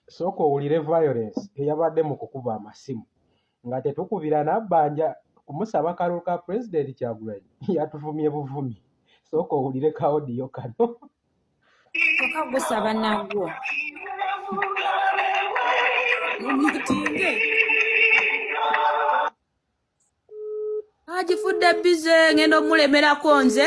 sooka owulire violence eyabadde mu kukuba amasimu nga tetukubira nabbanja kumusaba kalulu ka pulezidenti kyagulanyi yatuvumye buvumi sooka owulire kaodiyo kano toka gusaba nagwo omutinge agifudde bize ngenda omulemerako nze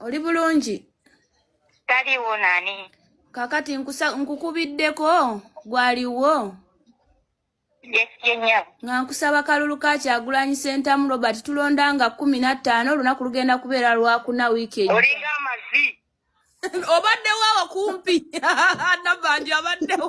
oli bulungi taliwo nani kakati nkukubiddeko gwaliwo nga nkusaba kalulu ka kyagulanyi sentamu robert tulonda nga kumi nattaano olunaku lugenda kubeera lwakuna wiiki olinga amazi obaddewo awo kumpi nabanja abaddewo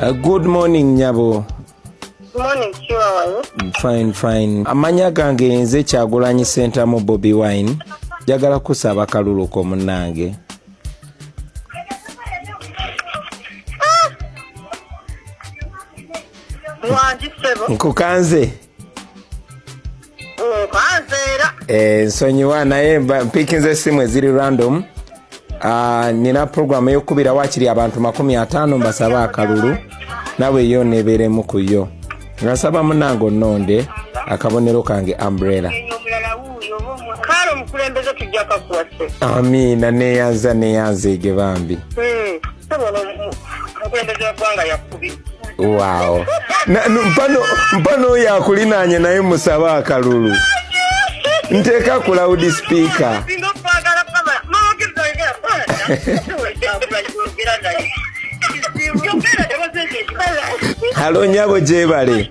Uh, good morning nyabo fine fine amanya gange nze kyagulanyi sentamu bobi wine njagala kusaba kaluluko munange ah! nkukanze Eh, nsonyiwa naye mpikinza esimu eziri random ah, nina puroguramu eyokukubira wakiri abantu makumi ataano mbasabe akalulu nawe yo neberemu ku yo nga nsaba munange ononde akabonero kange umbrella amiina neyanza neyanza ege bambi hmm. Wow. Na, mpano mpano oyo akulinaanye naye musabe akalulu nteeka ku loud speaker halo nyabo gyebale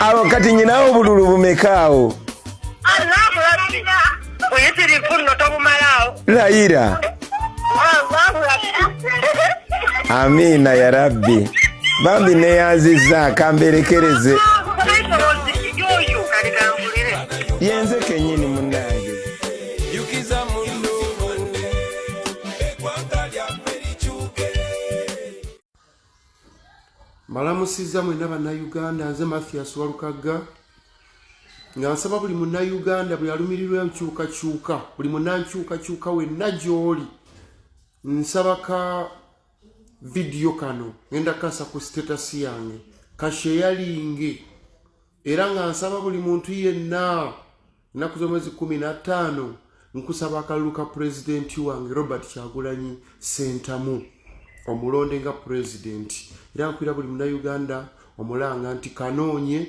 awo kati nyinawo obululu bumekaawo layira amiina ya rabbi bambi neyanziza kamberekereze yenze kenyini munange mbalamusiza mwena bannayuganda nze mathias walukagga nga nsaba buli munnayuganda buli alumirirwa enkyukakyuka buli munnankyukakyuka wenna gy'oli nsaba ka vidiyo kano ngenda kasa ku sitatasi yange kasheyalinge era nga nsaba buli muntu yenna ennaku z'omwezi kumi na ttaano nkusaba akalulu ka pulezidenti wange robert kyagulanyi sentamu omulonde nga pulezidenti era nkwira buli munauganda omulanga nti kanoonye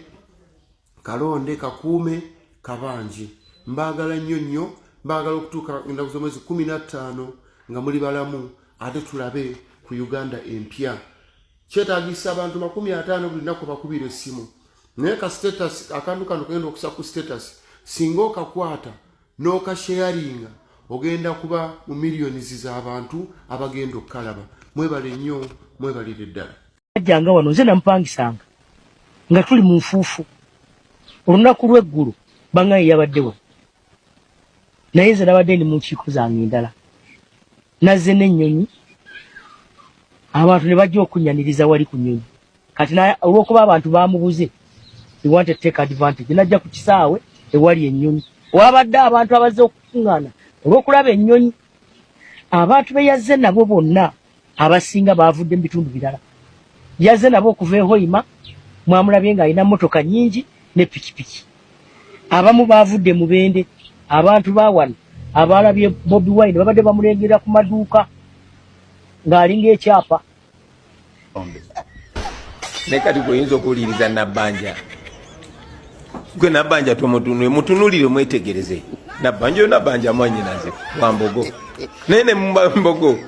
kalonde kakuume kabanje mbaagala nnyo nnyo mbaagala okutuuka ennaku z'omwezi kumi na ttaano nga muli balamu ate tulabe ku uganda empya kyetagisa abantu makumi ataano buli naku bakubira essimu naye ka status akantu kano kagenda okusa ku status singa okakwata n'okasheyaringa ogenda kuba mu millions z'abantu abagenda okukalaba mwebale nnyo mwebalire ddala ajjanga wano nze namupangisanga nga tuli mu nfuufu olunaku lw'eggulu bangaye yabadde wano naye nze nabadde ndi munkiiko zange endala nazze n'ennyonyi abantu ne bajja okunyaniriza wali ku nyonyi kati olwokuba abantu bamubuze ewante take advantage najja ku kisaawe ewali ennyonyi wabadde abantu abazze okukuŋŋaana olwokulaba ennyonyi abantu beyazze nabo bonna abasinga baavudde mu bitundu birala. Yazze nabo okuva e Hoima, mwamulabye ng'alina mmotoka nnyingi ne pikipiki. Abamu baavudde mu Bende, abantu ba wano abaalabye Bobi Wine babadde bamulengera ku maduuka ng'alinga ekyapa. Ne kati gwe oyinza okuwuliriza Nabbanja. gwe nabanja tomutunule mutunulire mwetegereze nabanja nabanja mwanyinaze wambogo naye ne mumbogo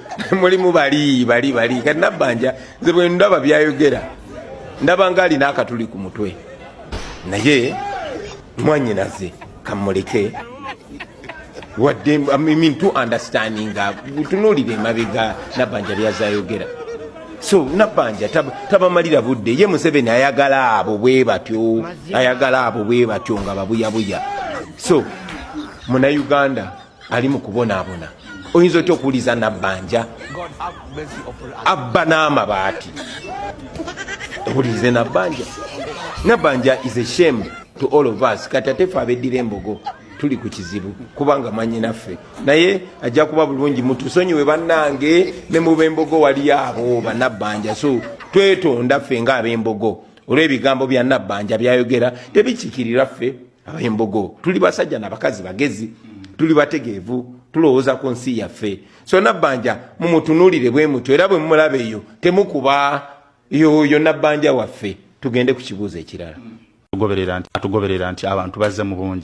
mulimu bali bali bali kati nabanja nze bwe ndaba byayogera ndaba nga alina akatuli ku mutwe naye mwanyinaze kamuleke wadde mintu understandinga tunuulira emabega nabbanja byazayogera so nabbanja tabamalira tab budde ye museveni ayagala abo bwe batyo ayagala abo bwe batyo nga babuyabuya so munauganda ali mu kubonaabona oyinza otya okuwuliza nabbanja abba n'amabaati owulirize nabbanja nabbanja is a shame to all of us kati atefe abeddira embogo tuli ku kizibu kubanga manyi naffe naye ajja kuba bulungi mutusonyiwe bannange ne mu bembogo wali abo banabbanja so twetonda ffe nga abembogo olw'ebigambo bya nabbanja byayogera tebikikirira ffe abembogo tuli basajja nabakazi bagezi tuli bategeevu tulowooza ku nsi yaffe so nabbanja mumutunulire bwe mutyo era bwe mumulaba eyo temukuba yoyo nabbanja waffe tugende ku kibuuzo ekirala atugoberera nti abantu bazze mu bungi